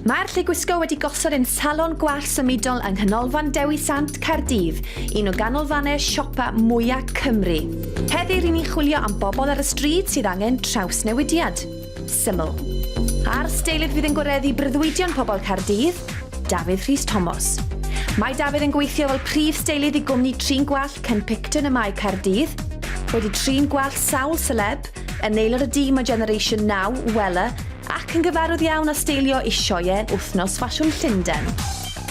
Mae'r lle gwisgo wedi gosod ein salon gwallt symudol yng Nghanolfan Dewi Sant, Caerdydd, un o ganolfannau siopa mwyaf Cymru. Heddi rŷn ni'n chwilio am bobl ar y stryd sydd angen trawsnewidiad. Syml. A'r steilydd fydd yn gwareddu breuddwydion pobl Caerdydd, Dafydd Rhys Tomos. Mae Dafydd yn gweithio fel prif steilydd i gwmni trin gwallt Ken Picton y Mae Caerdydd, wedi trin gwallt sawl seleb, yn aelod o dîm o Generation Now, Wella, Ac yn gyfarwydd iawn â steilio i sioeau Wythnos Ffasiwn Llundain.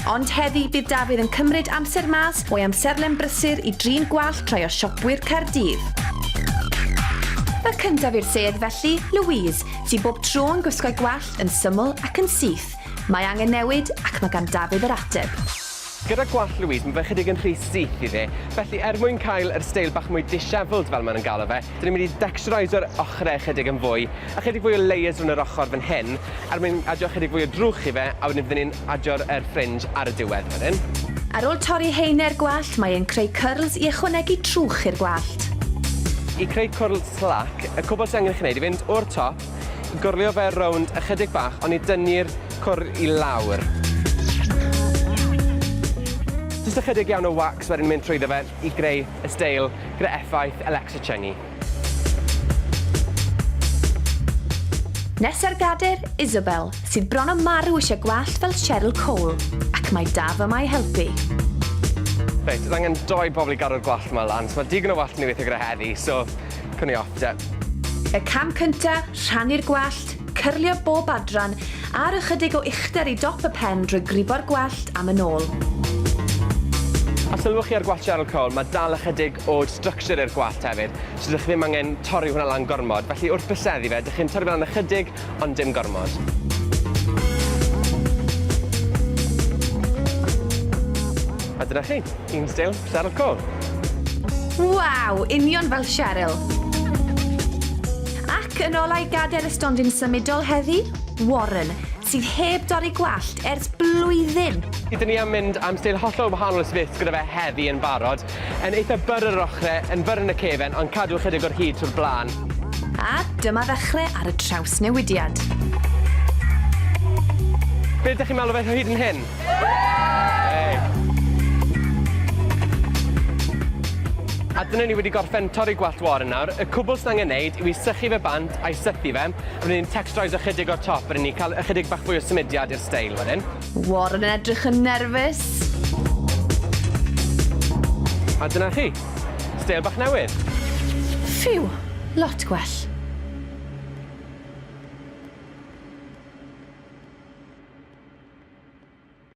Ond heddi bydd Dafydd yn cymryd amser mas o'i amserlen brysur i drin gwallt rhai o siopwyr Caerdydd. Y cyntaf i'r sedd felly, Louise, sy'n bob tro yn gwisgo'i gwallt yn syml ac yn syth. Mae angen newid ac mae gan Dafydd yr ateb. Gyda gwallt Louise, mae fe'n chydig yn rhy syth i fe, felly er mwyn cael yr steil bach mwy dishevelled fel maen nhw'n galw fe, dyn ni'n mynd i dextureisio'r ochrau ychydig yn fwy, ychydig fwy o layers rownd yr ochr fan hyn, er mwyn adio ychydig fwy o drwch i fe, a wedyn fydden ni'n adio'r er fringe ar y diwedd wedyn. Ar ôl torri haenau'r gwallt, mae e'n creu cyrls i ychwanegu trwch i'r gwallt. I creu cwrl slac, y cwbl sydd angen i chi wneud yw fynd o'r top, Gorlio fe rownd ychydig bach oni dynnu'r cwr i lawr. Jyst ychydig iawn o wax wedyn mynd trwyddo fe i greu y steil gyda effaith Alexa Chungey. Nes ar gader, Isabel, sydd bron a marw eisiau gwallt fel Cheryl Cole, ac mae Daf yma i helpu. Reit, oedd angen doi bobl i gadw'r gwallt 'ma lan, so mae digon o wallt i ni weithio gyda heddi, so Prynu off, yep. Y cam cynta, rhannu'r gwallt, cyrlio bob adran, a'r ychydig o uchder i dop y pen drwy gribo'r gwallt am yn ôl. A sylwch chi ar gwallt Cheryl Cole, mae dal ychydig o structure i'r gwallt hefyd, so dych chi ddim angen torri hwnna lan gormod, felly wrth byseddu fe, dych chi'n torri fe lan ychydig, ond dim gormod. A dyna chi, un stil Cheryl Cole. Waw, union fel Cheryl! Ac yn olau gader y stondin symudol heddi, Warren, sydd heb dorri gwallt ers blwyddyn. Ydyn ni am mynd am stil hollol wahanol ysfyth gyda fe heddi yn barod. Yn eitha bur ar yr ochre, yn fur yn y cefen, ond cadw ychydig o'r hud trwy'r blaen. A dyma ddechre ar y trawsnewidiad. Be dych chi'n meddwl o fe hyd yn hyn? A dyna ni wedi gorffen torri gwallt wâr yn nawr. Y cwbl sydd angen neud yw i sychu fe bant a'i sythu fe. Wedyn ni'n texturise ychydig o'r top wedyn ni ca'l ychydig bach fwy o symudiad i'r steil wedyn. Warren yn edrych yn nerfus. A dyna chi. Steil bach newydd. Ffîw! Lot gwell.